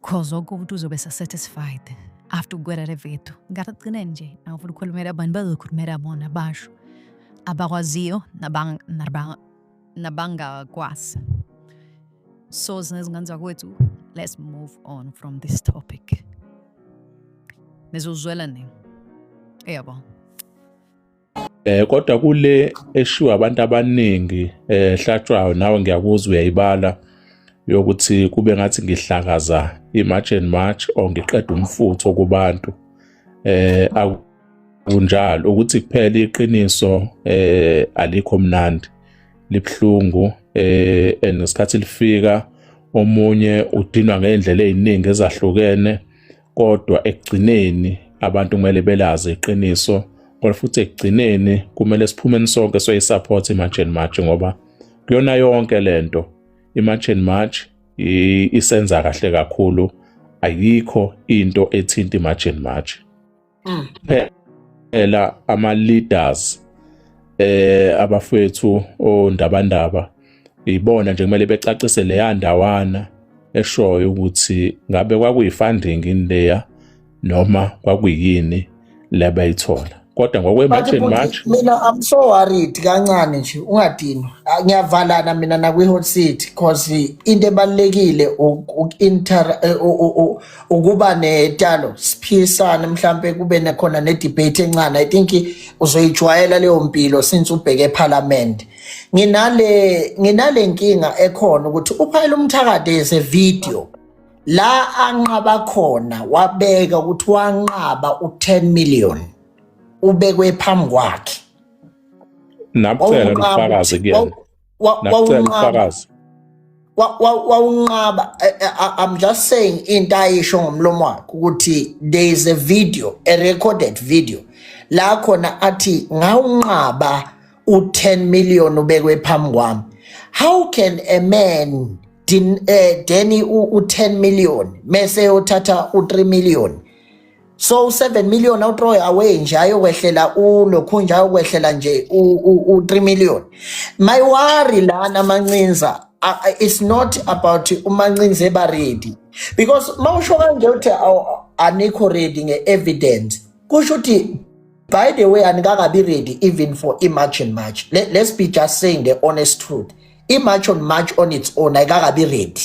cause wonke umuntu uzobe satisfied after ukugwera le video ngathi agcine nje angifuna ukukhulumela abantu bazokhulumela bona basho abakwaziyo nabangakwazi so zinezingane zakwethu let's move on from this topic nizozwela nini eyabo Eh kodwa kule eshiwa abantu abaningi eh hlatshwayo nawe ngiyakuzwa uyayibala yokuthi kube ngathi ngihlakaza imarch and march or ngiqeda umfutho kubantu eh kunjalo ukuthi kuphela iqiniso eh alikho mnandi libhlungu eh and ngesikhathi lifika omunye udinwa ngeindlela eziningi ezahlukene kodwa ekugcineni abantu kumele belazi iqiniso kodwa futhi ekugcineni kumele siphumeni sonke soyisupport i-march and march ngoba kuyona yonke le nto i-march and march isenza kahle kakhulu ayikho into ethinta i-march and march mm. phela ama-leaders eh abafethu ondabandaba ibona nje kumele becacise leya ndawana eshoyo ukuthi ngabe kwakuyi-funding in leya noma kwakuyini lebayithola kodwa ngokwe-march and march mina i'm so worried kancane nje ungadinwa ah, ngiyavalana mina nakwi-hot city because into ebalulekile eh, ukuba netalo siphisane mhlawumpe kube nekhona ne-debate encane i think uzoyijwayela leyo mpilo since ubheke ephalamende nginale nginale nkinga ekhona ukuthi uphayela umthakade is a video la anqaba khona wabeka ukuthi wanqaba u10 million ubekwe phambi kwakhe nakucela ubufakazi kuyena wawunqaba wawunqaba eh, eh, i'm just saying into ayisho ngomlomo wakhe ukuthi there is a video a recorded video la khona athi ngawunqaba u-10 million ubekwe phambi kwami how can a man din, eh, deni u-10 million mese yothatha u-3 million so u-7 million awutroy away nje ayokwehlela ulokhu nje ayokwehlela nje u-3 million my worry lana mancinza it's not about umancinza eba ready because mawusho kanje uthi anikho ready nge-evidence kusho ukuthi by the way anikabi ready even for i-march and march Let, let's be just saying the honest truth i-march on march on its own ayikakabi ready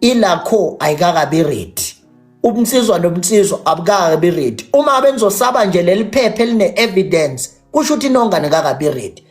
ilakho ayikakabi ready ubunsizwa nobunsizwa abukakabi ready uma benzosaba nje leli phepha eline-evidence kusho ukuthi inongane kakabi ready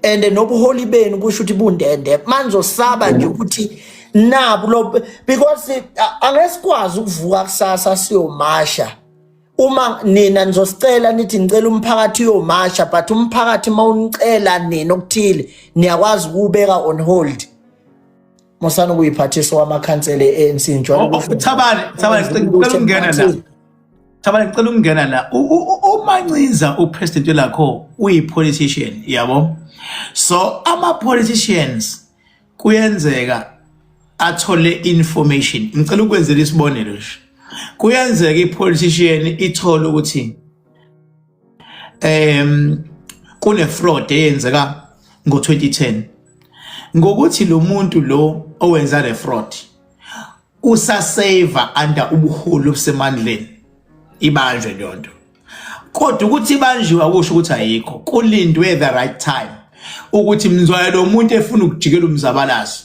and nobuholi benu kusho ukuthi bundende manizosaba nje ukuthi nabu lo because angesikwazi ukuvuka kusasa siyomasha uma nina nizosicela nithi ngicela umphakathi uyomasha but umphakathi mawunicela nina okuthile niyakwazi ukubeka on hold musani ukuyiphathisa wamakhansela e-anc oh, oh, thabane thabane ngicela ukungena la thabane ngicela ukungena la umancinza upresident lakho uyi-politician yabo so ama-politicians kuyenzeka athole information ngicela ukwenzela isibonelo nje kuyenzeka i-politician ithole ukuthi um kune fraud eyenzeka ngo-2010 ngokuthi lo muntu lo owenza le fraud usaseva under ubuholi obusemandleni ibanjwe leyo nto kodwa ukuthi ibanjiwe akusho ukuthi ayikho kulindwe the right time ukuthi mzwayo lo muntu efuna ukujikela umzabalazo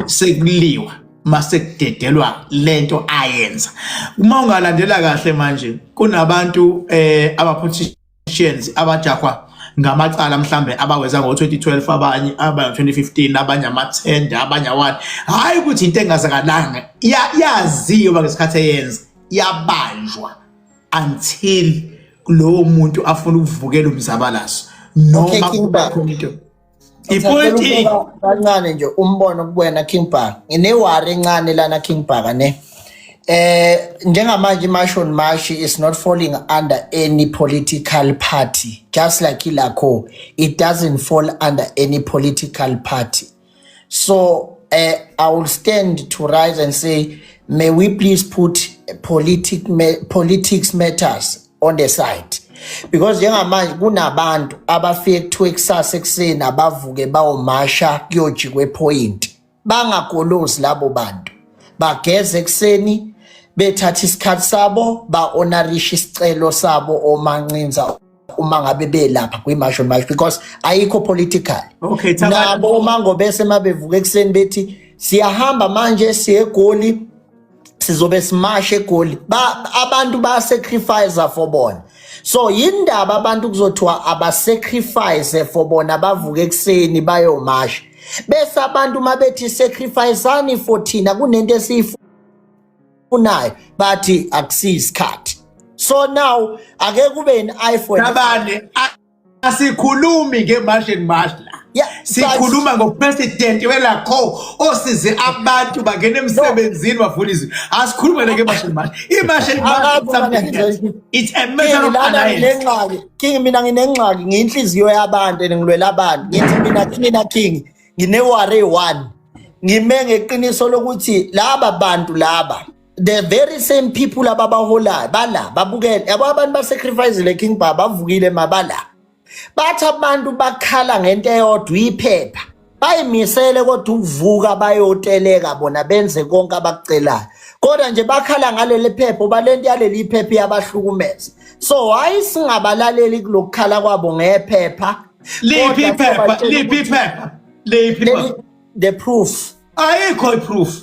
sekuliwa mase kudedelwa lento ayenza uma ungalandela kahle manje kunabantu eh aba politicians abajahwa ngamacala mhlambe abaweza ngo-2012 abanye abanye-2015 abanye amathende abanye awani hhayi ukuthi into engazakalanga yaziwa ngesikhathi eyenza yabanjwa until lowo muntu afuna ukuvukela umzabalazo noma kuba khona into ipolitiki kancane nje umbono kuwena King Bhaka nginewari encane lana King Bhaka ne eh njengamanje imasho mashi is not falling under any political party just like ilakho it doesn't fall under any political party so uh, i will stand to rise and say may we please put politic politics matters on the side because njengamanje kunabantu abafike kuthiwa ekusasa ekuseni abavuke bawomasha kuyojikwa ephoyinti bangagolozi labo bantu bageze ekuseni bethatha isikhathi sabo ba-onarisha isicelo sabo omancinza uma ngabe belapha kwi-march on march because ayikho political okay, nabo uma ngobese uma bevuka ekuseni bethi siyahamba manje siye egoli sizobe simashe egoli ba, abantu bayasacrifice for bona so yindaba abantu kuzothiwa abasacrifice for bona bavuke ekuseni bayomasha bese abantu uma bethi sacrificeani for thina kunento esiyifunayo bathi akusiyisikhathi so now ake kube i-iphone asikhulumi nge-march and march la Yeah, but- sikhuluma ngopresidenti welakho osize abantu bangena emsebenzini bavula izwi asikhulume nake march and march i-march and march is Akazi something mina else. ngizoyi- it's a matter King of lana alliance nginengxaki king mina nginengxaki ngiyinhliziyo yabantu and ngilwela abantu ngithi mina kumina king ngineware one ngime ngeqiniso lokuthi laba bantu laba the very same people ababaholayo bala babukele yabo abantu basacrifice le king baba bavukile mabala bathi abantu bakhala ngento eyodwa iphepha bayimisele kodwa ukuvuka bayoteleka bona benze konke abakucelayo kodwa nje bakhala ngaleli phepha uba le nto yaleli phepha iyabahlukumeza so hayi singabalaleli kulokukhala kwabo ngephepha liphi iphepha liphi iphepha liphi the proof ayikho iproof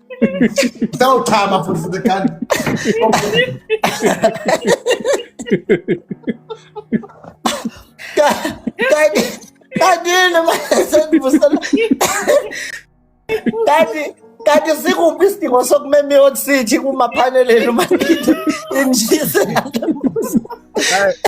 Utawuchama futhi futhi kanti. Kanti kanti noma sendibusela. Kanti kanti sikuphi isidingo sokumema i-hot city kumaphaneleni uma injise.